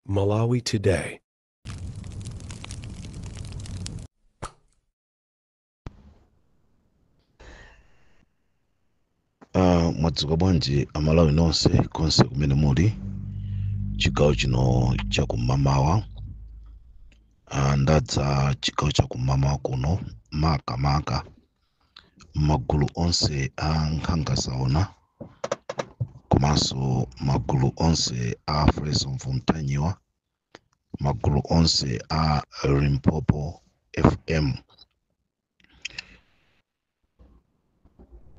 Malawi Today. Ah, mwadzuka bwanji amalawi nonse konse kumene muli chigawo chino cha kumamawa ah, ndadza chigawo cha kumamawa kuno maka maka magulu onse a nkhanga zaona komanso magulu onse a Freedom for Mtanyiwa magulu onse a Limpopo FM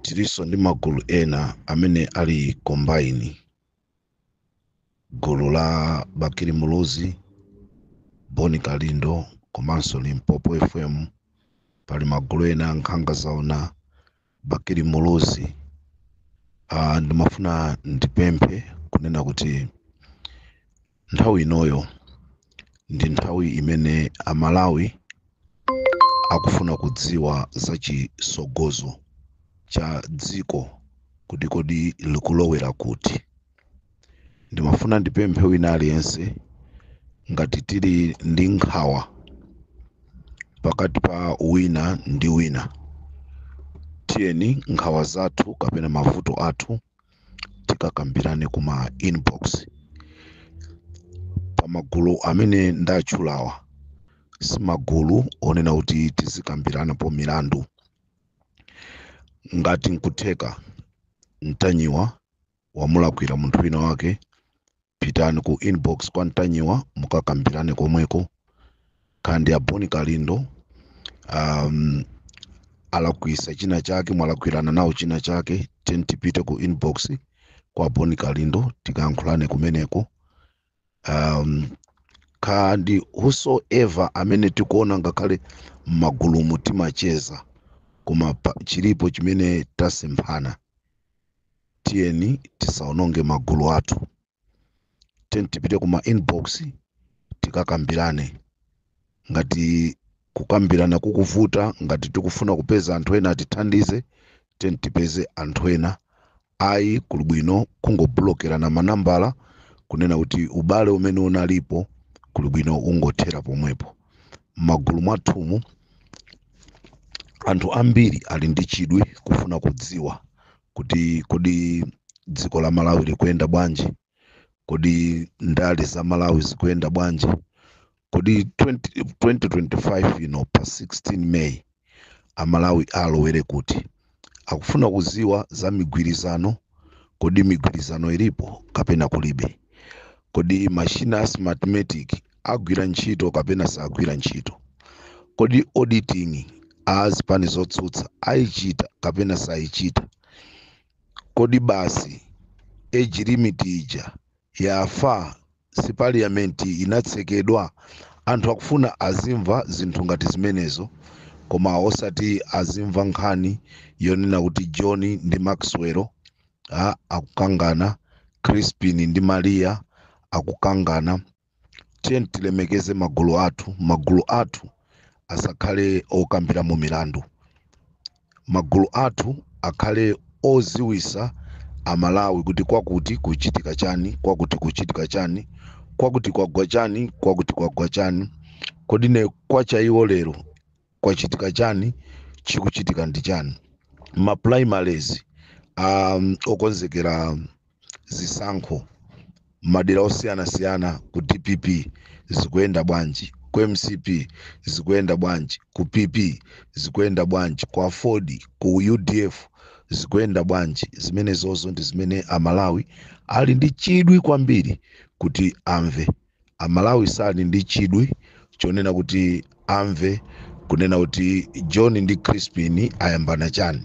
tiliso ndi magulu ena amene ali combined gulu la Bakili Muluzi Bon Kalindo komanso Limpopo FM pali magulu ena nkhanga zaona Bakili Muluzi uh, ndimafuna ndipemphe kunena kuti nthawi inoyo ndi nthawi imene amalawi akufuna kudziwa za chisogozo cha dziko kuti kodi likulowera kuti ndimafuna ndipemphe wina aliyense ngati tili ndi nkhawa pakati pa wina ndi wina tiyeni nkhawa zathu kapena mavuto athu tikakambirane kuma inbox pamagulu amene ndatchulawa simagulu onena kuti tizikambiranapo milandu ngati nkutheka Mtanyiwa wamulakwira munthu wina wake pitani ku inbox kwa Mtanyiwa mukakambirane komweko kaya ndi a Bon Kalindo um, alakwisa china chake mwalakwirana nawo china chake tiyeni tipite ku inbox kwa a Bon Kalindo tikayankhulane kumeneko um, kaya ndi whosoever amene tikuona ngakhale m'magulumu timacheza koma pa- chilipo chimene tasemphana tiyeni tisaononge magulu athu tiyeni tipite kuma inbox tikakambirane ngati kukambirana kukuvuta ngati tikufuna kupeza anthu ena atithandize tiyeni tipeze anthu ena ayi kuli bwino kungoblokerana manambala kunena kuti ubale umene unalipo kuli bwino ungothera pomwepo m'magulu mwathumu anthu ambiri ali ndi chidwi kufuna kudziwa kuti kodi dziko la Malawi likuyenda bwanji kodi ndale za malawi zikuyenda bwanji kodi 2025 ino pa 16 may amalawi alowere kuti akufuna kuziwa za migwirizano kodi migwirizano ilipo kapena kulibe kodi mashina a smartmatic agwira ntchito kapena sagwira ntchito kodi auditing a zipani zotsutsa ayichita kapena sayichita Kodi basi age limit ija yafa si parliament inatsekedwa? Anthu akufuna azimva zinthu ngati zimenezo koma osati azimva nkhani yonena kuti John ndi Maxwell akukangana, Chrispin ndi Maria akukangana. tiyeni tilemekeze magulu athu magulu athu asakhale okambira mu milandu magulu athu akhale oziwisa amalawi kuti kwakuti kuchitika chani kwakuti kuchitika chani kwakuti kwagwa chani kwakuti kwagwa chani kodi ne kwacha iwo lero kwachitika chani chikuchitika ndi chani ma primaries okonzekera zisankho madera osiyanasiyana ku dpp zikuyenda bwanji ku mcp zikuyenda bwanji ku pp zikuyenda bwanji ku aford ku udf zikuyenda bwanji zimenezozo ndi zimene amalawi ali ndi chidwi kwambiri kuti amve Amalawi sali ndi chidwi chonena kuti amve kunena kuti John ndi Chrispin ayambana chani,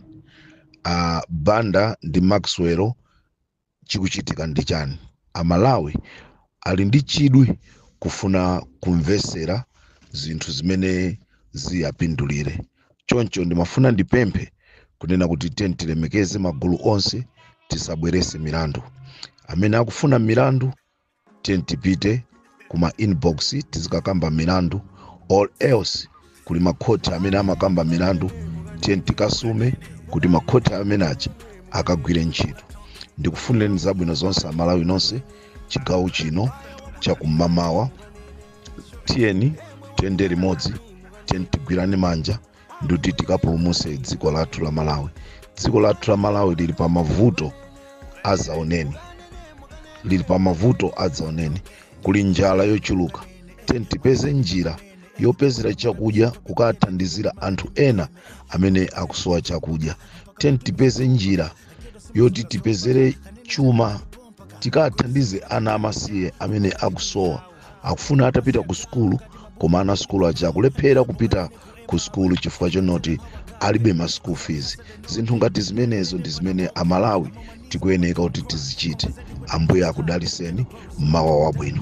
a Banda ndi Maxwell chikuchitika ndi chani. Amalawi ali ndi chidwi kufuna kumvesera zinthu zimene ziyapindulire. Choncho ndimafuna ndipemphe kunena kuti tiyeni tilemekeze magulu onse, tisabwerese milandu. Amene akufuna milandu tiyeni tipite kuma inbox tizikakamba milandu or else kuli makhoti amene amakamba milandu tiyeni tikasume kuti makhoti amene aja akagwire ntchito ndikufunireni zabwino zonse amalawi nonse chigawo chino chakum'mamawa tiyeni tiyende limodzi tiyeni tigwirane manja ndikuti tikapulumuse dziko lathu la malawi dziko lathu la malawi lili pa mavuto adzaoneni kuli njala yochuluka tiyeni tipeze njira yopezera chakudya kukathandizira anthu ena amene akusowa chakudya tiyeni tipeze njira yoti tipezere chuma tikathandize ana amasiye amene akusowa akufuna atapita ku sukulu koma ana sukulu aja akulephera kupita ku sukulu chifukwa chonoti alibe ma school fees zinthu ngati zimenezo ndi zimene amalawi tikuyeneka kuti tizichite ambuye akudaliseni mmawa wabwino